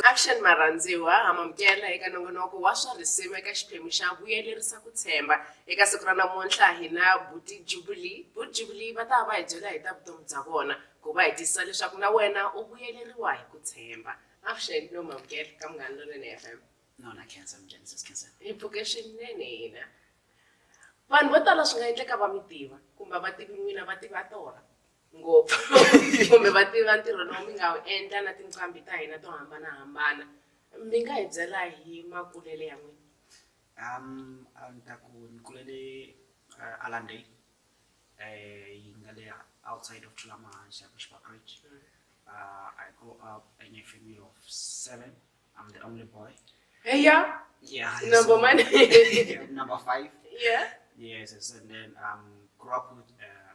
Avuxeni marhandziwa, ha mamukela eka nongonoko wa swa risima eka xiphemu xa vuyelerisa ku tshemba. Eka siku ra namuntlha hi na Buti Jubilee. Buti Jubilee va ta va hi byela hi ta vutomi bya vona ku va hi tiyisisa leswaku na wena u vuyeleriwa hi ku tshemba. Avuxeni no mamukela ka Munghana Lonene FM. Nona Khensa, minjhani Sis Khensa? Hi pfuke swinene hina. Vanhu vo tala swi nga endleka va mi tiva kumbe vativi n'wina va tiva tona. ngopfu kumbe va tiva ntirho lowu mi nga wu endla na tinqambi ta hina to hambanahambana mi nga hi byela hi makulele ya n'wina um a ni ta ku ni kulele uh, alande um eh, yi nga le outside of tulamahanxa ku xibabridge mm. uh, i go up in a family of seven i'm the only boy heya yeah number so, one number five yeah yes and then um grew up with uh,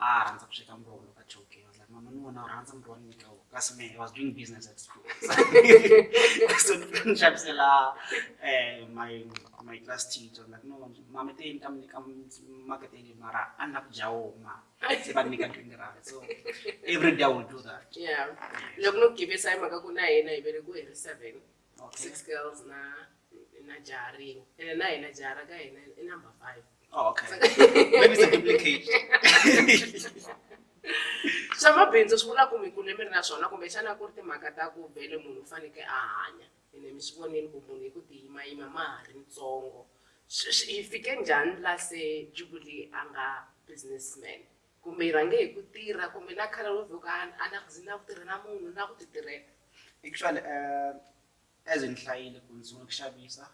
a a rhandza ku sweka muroho loko a choke was like mama ni vona u rhandza muroho ni nyika wona kasi me was doing business at school so ni xavisela eh, my my class teacher like no mama te ni ta mi nyika maketeni mara a ni la ku dya woma se va ni nyika twenty rand so every day i will do that yeah loko no givisa hi mhaka ku na hina hi vele ku hi ri seven six girls na na jaha rin'we ene na hina jaha ra ka hina i number five oh, okay. Maybe it's a duplicate. swa mabindzu swi vula ku mi kule mi ri na swona kumbexana ku ri timhaka ta ku vele munhu u fanekele a hanya ene mi swi vonile ku munhu hi ku tiyimayima ma ha ri ntsongo hi fike njhani la se jubilee a nga businessman Kumbe hi rhange hi ku tirha kumbe na khale ro vhuka a na zi na ku tirha na munhu na ku ti tirhela actually um as ni hlayile ku ni sungula ku xavisa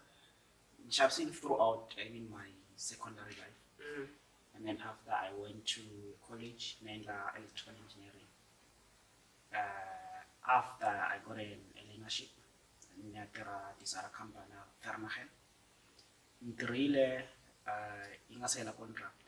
ni xavisile throughout i mean my secondary life mm. and then after i went to college ni endla electrical engineering uh, after i got an learnership ni ya tirha tisara company vernagen ni tirhile uh, yi nga se hela contract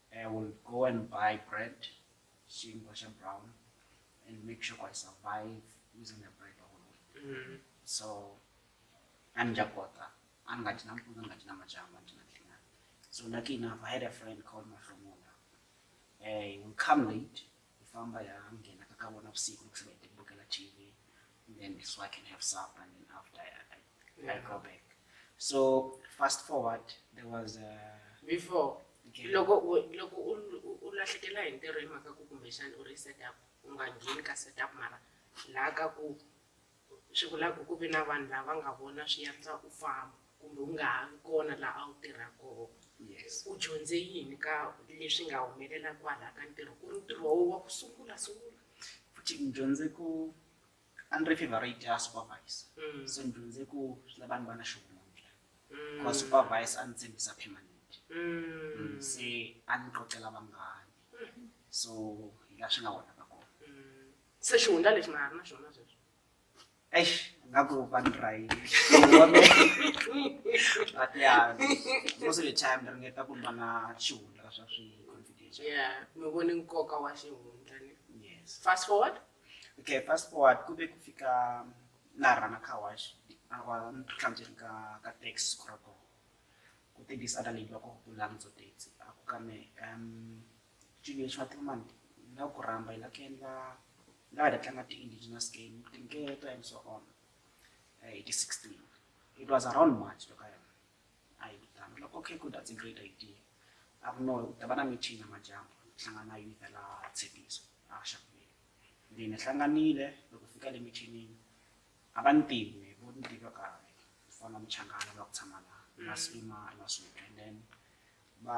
I will go and buy bread, xinkwa xa brown, and make sure I survive using the bread the whole week. Mm. So, a ni nga kota, a ni nga dyi nampundzu, a ni nga dyi namadyambu, a ni dyi na nhlinyana. So lucky enough, I had a friend called Mahlomula. Uh, he would come late, Hi famba hi ya nghena ka ka vona vusiku loko se va hi tibukela TV and then so I can have supper and then after I, I, I go back. So fast forward there was a before Okay. loko u- loko u u- u lahlekela hi ntirho hi mhaka ku kumbexana u ri setup u nga ngheni ka setup mara laha ka ku swi vula ku ku ve na vanhu lava nga vona swi yandza u famba kumbe u nga ha vi kona laha a wu tirha kona yes u dyondze yini ka leswi nga humelela kwalaha ka ntirho ku ri ntirho wo wa ku sungula sungula futhi ni dyondze ku a ni ri favorite ya supervisor Mm. so ni dyondze ku swi lava ni va na xivundla Mm. because supervisor a ni tshembisa permanent Mm. se a ni qoqela vanghani so hi laha swi nga wona se xihundla lexi na ha ri na xona sweswi eish nga ku va ni rhayini but ya most of the time ni ringeta ku ni va na xihundla swa swi confidential ya mi voni nkoka wa xihundla ni yes fast forward okay fast forward ku ve ku fika laha rana car wash a va ni tlhandzeni ka ka tax kurato ku tibisa na leyi loko ku langutso taxi a ku ka me um Junior Swartleman hi la ku rhamba hi la ku endla hi la hi ta tlanga ti-indigenous game tinketo and so on eh, hi ti-16 it was around march loko yona a yi vitana loko okay good that's a great idea a ku no ku ta va na meeting ya majambo hlangana na youth la tshepiso a xakuvile ndzi ni hlanganile loko fika le mithinini a va ni tivi vo ni tiva kahle ku fana muchangana va ku tshama la na swima na swinto and then va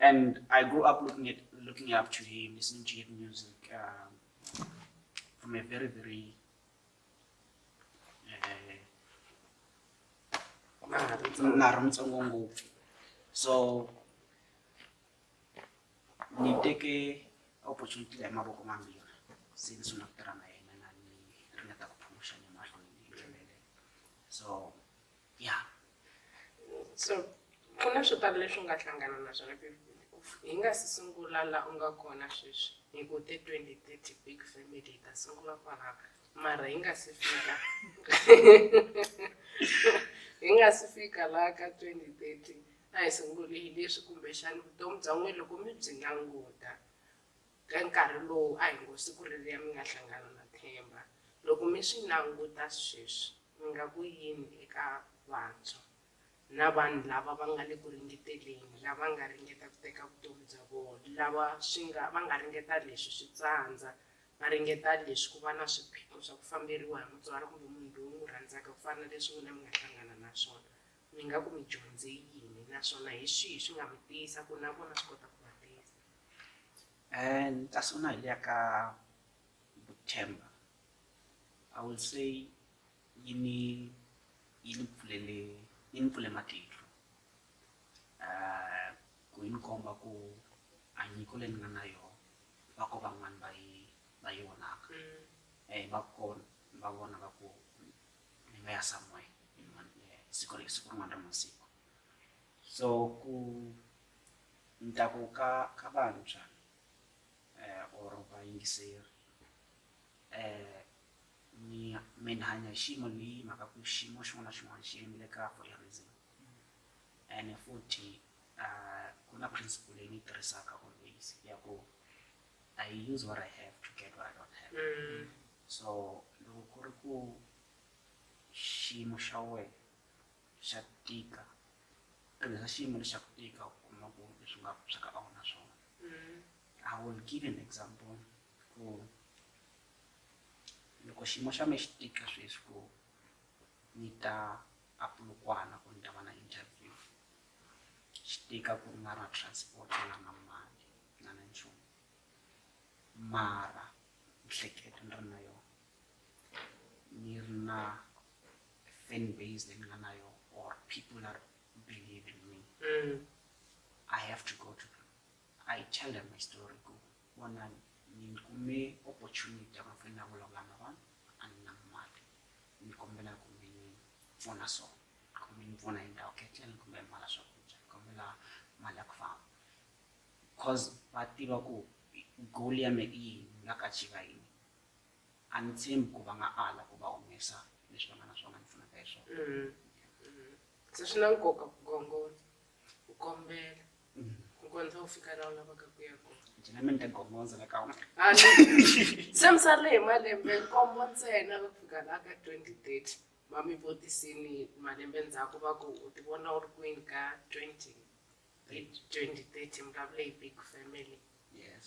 and I grew up looking at looking up to him, listening to his music um, from a very very uh, so ni teke opportunity ya maboko mambiri since unakutana na yena na ni ringeta kuphusha ni mahlweni so ya so ku na swo tala leswi u nga hlangana na swona hi nga si sungula la u nga kona sweswi hi ku te 2030 big family hi ta sungula kwalava mara hi nga si fika hi nga si fika laha ka 2030 a hi sunguli hi leswi kumbexani vutomi bya n'wina loko mi byi languta Ka nkarhi lowu a hi ngo siku reriya mi nga hlangana na Themba, loko mi swi languta sweswi mi nga ku yini eka vantshwa na vanhu lava va nga le ku ringeteleni, lava nga ringeta ku teka vutomi bya vona, lava swi nga va nga ringeta leswi swi tsandza, va ringeta leswi ku va na swiphiqo swa ku famberiwa hi mutswari kumbe munhu loyi u n'wi rhandzaka ku fana na leswi n'wina mi nga hlangana na swona, mi nga ku mi dyondze yini naswona hi swihi swi nga mi tiyisa ku na vona swi kota ku va tiyisa. and kasi u na hi liya ka vuthemba i will say yi ni yi ni pfulele yi ni pfule matihlo um ku yi ni komba ku a nyiko leyi ni nga na yona va ko van'wani va yi va yi vonaka um mm. va kona va vona va ku ni nga ya somewhere siku siku rin'wana ra masiku so ku ni ta ku ka ka vantshwa um or vayingiseri um mi mi ni hanya hi xiyimo leyi mhaka ku xiyimo xin'wana na xin'wana xi yimile ka for a reason ene futhi um ku na principle leyi ni yi tirhisaka always ya ku i use what i have to get what i don't have so loko ku ri ku xiyimo xa wena swa tika tirhisa xiyimo lexi xa ku tika u kuma ku leswi nga swa ka a wu na swona i will give an example ku loko xiyimo xa me xi tika sweswi ku ni ta apulukwana ku ni ta va na interview xi tika ku ri nga na transport na na mali na na nchumu mara miehleketo ni ri na yona ni ri na fan base leyi ni nga na yo or people are believe in me mm. i have to go to them i tell them my story ku vona ni kume opportunity ya mafeni na vulavula na vanhu a ni na mali ni kombela ku mi ni pfuna so kumbe ni pfuna hi ndhawu ketleni kumbe mala swakudya ni kombela mali ya ku famba because va tiva ku goal ya me i yini nga ka chiva yini a ni tshembi ku va nga ala ku va humesa leswi va nga na swona ni pfunaka hi swona mm-hmm. Mm-hmm. se swi na nkoka ku gongola ku kombela mm-hmm. ku kondza u fika laha u lavaka ku ya kona njhina mi ni ta gongonza la ka wena ah, se mi sale hi malembe nkombo ntsena ku fika laha ka twenty thirty va mi vutisini malembe ndzhaku va ku u ti vona u ri kwini ka twenty twenty thirty mi lavule hi big family yes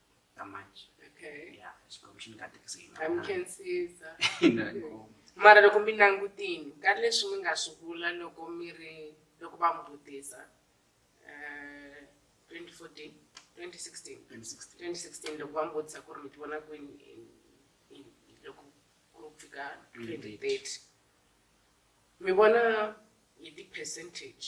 kamanje okay ya xikwembu xi ni katekise hi a mi nga- khensiza hi nga ngoma. mara loko mi langutini ka leswi mi nga swi vula loko mi ri loko va mi vutisa eh, 2014 2016 2016. 2016 loko va mi vutisa ku ri mi ti vona kwini in- in- loko ku ri ku fika 2030 mi vona hi ti-percentage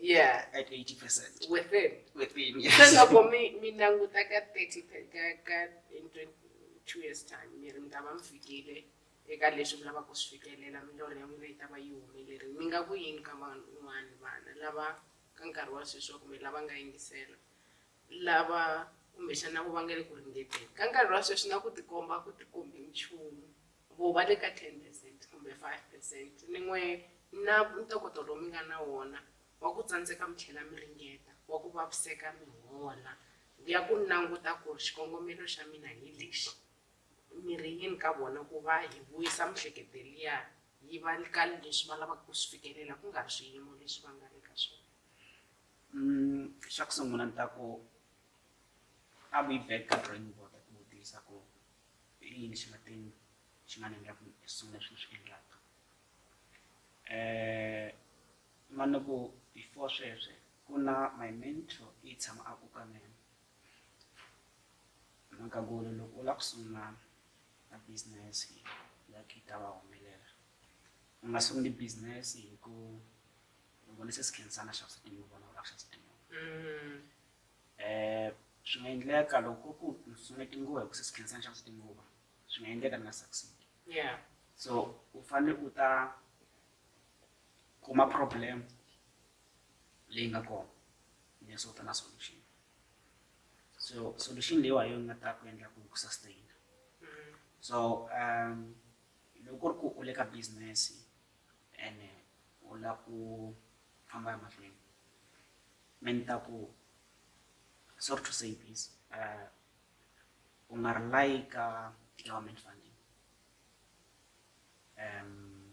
yeah at 80 percent within within yes se loko mi mi languta ka 30 ka ka in 22 years time mi ri mi ta va mi fikile eka leswi mi lavaka ku swi fikelela milorho ya n'wina yi ta va yi humelerile mi nga ku yini ka van'wana vana lava ka nkarhi wa sweswi wa kumbe lava nga yingisela lava kumbexana ku va nga le ku ringeteni ka nkarhi wa sweswi na ku tikomba ku tikombi nchumu Vo va le ka 10 percent kumbe 5 percent, ni n'we na ntokoto lowu mi nga na wona wa ku tsandzeka mi tlhela mi ringeta, wa ku vaviseka mi hola, ya ku languta ku ri xikongomelo xa mina hi lexi, mi ri yini ka vona ku va hi vuyisa miehleketo liya yi va ka leswi va lavaka ku swi fikelela ku nga ri swiyimo leswi va nga le ka swona. Xa ku sungula ni ta ku a vu yi back ka drawing board ku vutisa ku i yini xi nga te xi nga ni endla ku hi sungula swilo swi endlaka um ma ni ku before sweswe ku na my mentor i tshama a ku ka mina mhaka ku ri loko u lava ku sungula a business like yi ta va humelela u nga sunguli business hi ku vona se si khensana xavisa tinguva na u lava xavisa tinguva Eh, swi nga endleka loko ku ni tsutsumele tinguva hikuva se si khensa ni xavisa tinguva swi nga endleka ni nga succeed yeah so u fanele u ta kuma problem leyi nga kona ni so ta na solution so solution leyiwa yo nga ta ku endla ku ku sustain mm. so um loko ku ri ku u le ka business and u lava ku famba emahlweni me ni ta ku sorry to say this uh, u nga ri layika government funding um